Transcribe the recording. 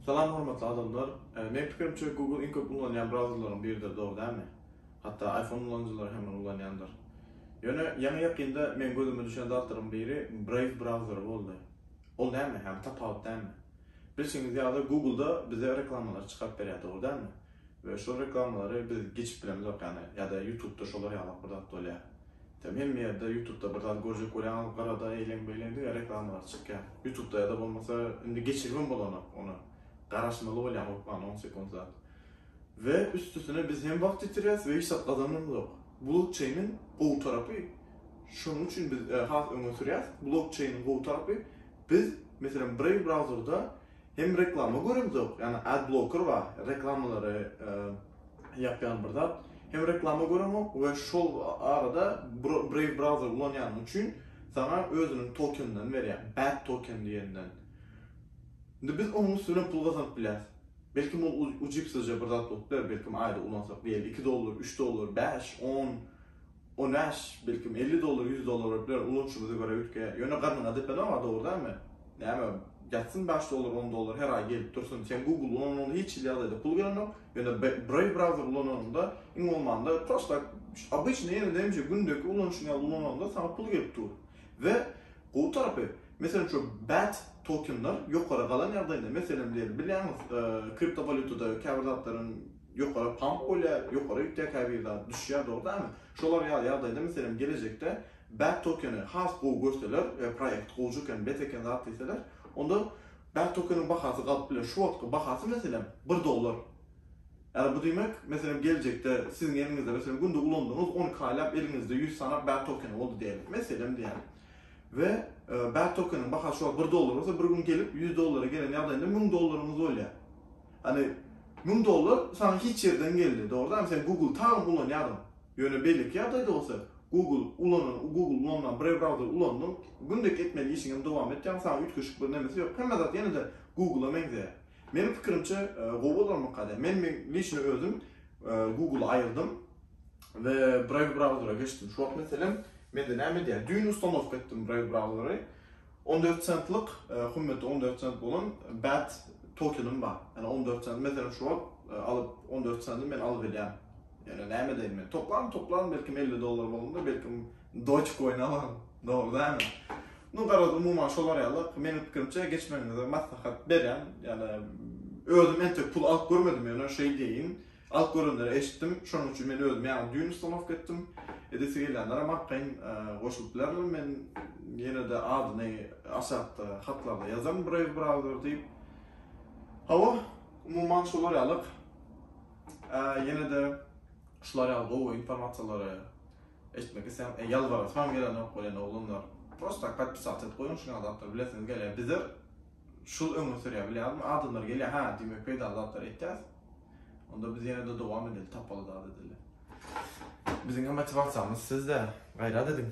Salam hormatly adamlar. Meň pikirimçe Google iň köp ulanýan brauzerleriň biridir dogry dälmi? Hatda iPhone ulanyjylary hem ony ulanýandyr. Ýöne ýaňy ýakynda meň gözüme düşen zatlaryň biri Brave brauzeri boldy. Ol näme? Hem tapawut näme? Bilşiňiz ýaly Google-da bize reklamalar çykaryp berýär dogry dälmi? We şol reklamalary biz geçip bilemizok ýany ýa-da Youtube-da şolar ýalak bir zat bolýar. Sen hemme ýerde ýutubda bir zat görjek bolýaňyz gyrada eýleň beýleň diňe reklamalar çykýar ýutubda ýada bolmasa indi geçiribem bolanok ony garaşmaly bolýaň hökman on sekunt zat we üstüsine biz hem wagt ýitirýäs we hiç zat gazananymzok blokçeýniň gowy tarapy şonuň üçin biz has öňe sürýäs blokçeýniň gowy tarapy biz meselem brave brauzerda Hem reklama göremzok, yani ad blocker bar, reklamaları yapyan bir zat. Hem reklama göremok ve şol arada Brave browser ulanyanın üçin sana özünün tokeninden verýär, bat token diyenden. Şimdi biz onun üstüne pul kazanıp bilyas. Belki bu ucipsizce bir zat bolup biler, belki ayda ulansak diyelim 2 dollar, 3 dollar, 5, 10, On bäş, belkim, elli dollar, ýüz dollar bolup biler, ulanyşymyza görä üýtge. Ýöne garnyňa depenem-a, dogry dälmi? Näme, ýatsyn bäş dollar, on dollar her aý gelip dursun. Sen Google ulananyňda hiç hili ýagdaýda pul gelenok, ýöne Brave browser ulananyňda, iň bolmanda, prosta şu obyçnyý ýene-de gündeki ulanyşyň ýaly ulananyňda saňa pul gelip dur. We gowy tarapy, meselem, şu bat tokenler ýokary galan ýagdaýynda, meselem, diýeli, bilýäňiz, kriptowalýutada käbir zatlaryň, ýokary pump bolýar, ýokary ýükdäkäbir zat düşýär, dogrydarmy? Şolar ýaly ýagdaýda, meselem, gelejekde bad tokeni has gowy görseler, e, proýekt gowja eken, bet eken zat diýseler, onda bad tokeniň bahasy galyp biler. Şu wagtky bahasy, meselem, bir dollar. Ýagny bu diýmek, meselem, gelejekde siziň eliňizde, meselem, günde ulandygyňyz on iki aýlap eliňizde ýüz sany bad tokeni boldy diýeliň, meselem diýýän. We, e, bad tokeniň bahasy şu wagt bir dollar bolsa, bir gün gelip ýüz dollara gelen ýagdaýynda müň dollaryňyz bolýar. Hany müň dollar saňa hiç ýerden geldi dogrydanam sen Google taýyn ulanýadyň ýöne beýleki ýagdaýda bolsa Google ulanan Google ulanman brew browser ulandyň gündelik etmeli işiň hem dowam etýäň saňa üýtgeşik bir nemesi ýok hemme zat ýenede Google-a meňzeýär meniň pikirimçe gowy bolarmyka diýýän men men liçno özüm Google-y aýyrdym we brew browser-a geçdim şu wagt meselem mende näme edýär düýn ustanowka etdim brew browser-y On dört sentlik, hymmeti on dört sent bolan bad tokenim bar. Ýani on dört sent, meselem şu wagt alyp on dört senti men alyp bilýän. Ýani näme edeýin men? Toplan, toplan belkim elli dollar bolandyr, belkim doge coin alaryn. Dogry dälmi? Nu garaz umuman şolar ýaly, meniň pikirimçe geçmegiňize maslahat berýän. Ýani özüm entek pul alyp görmedim ýöne şeý diýeýin, Alyp görenleri eşitdim, şonuň üçin men özüm ýaňy düýn ustanowka etdim. Edesi gelýänlerem arkaýyn goşulyp bilerler, men ýene-de adyny aşakda hatlarda ýazaryn Brave Browser diýip. Hawa, umuman şolar ýalyk. Ýene-de şular ýaly gowy informasiýalary eşitmek isleýän, e, ýalbarasymam gelenok welin oglanlar, prosta tak podpisat edip goýuň, şuňa zatlary bilesiňiz gelýär. Bizler şul öňe sürýär, bilýärmi? Adamlar gelýär, hä, diýmek peýdaly zatlar etýäs. Onda biz ýene-de dowam edeli, tapaly zat edeli. Biziň motiwasiýamyz sizde, gaýrat ediň!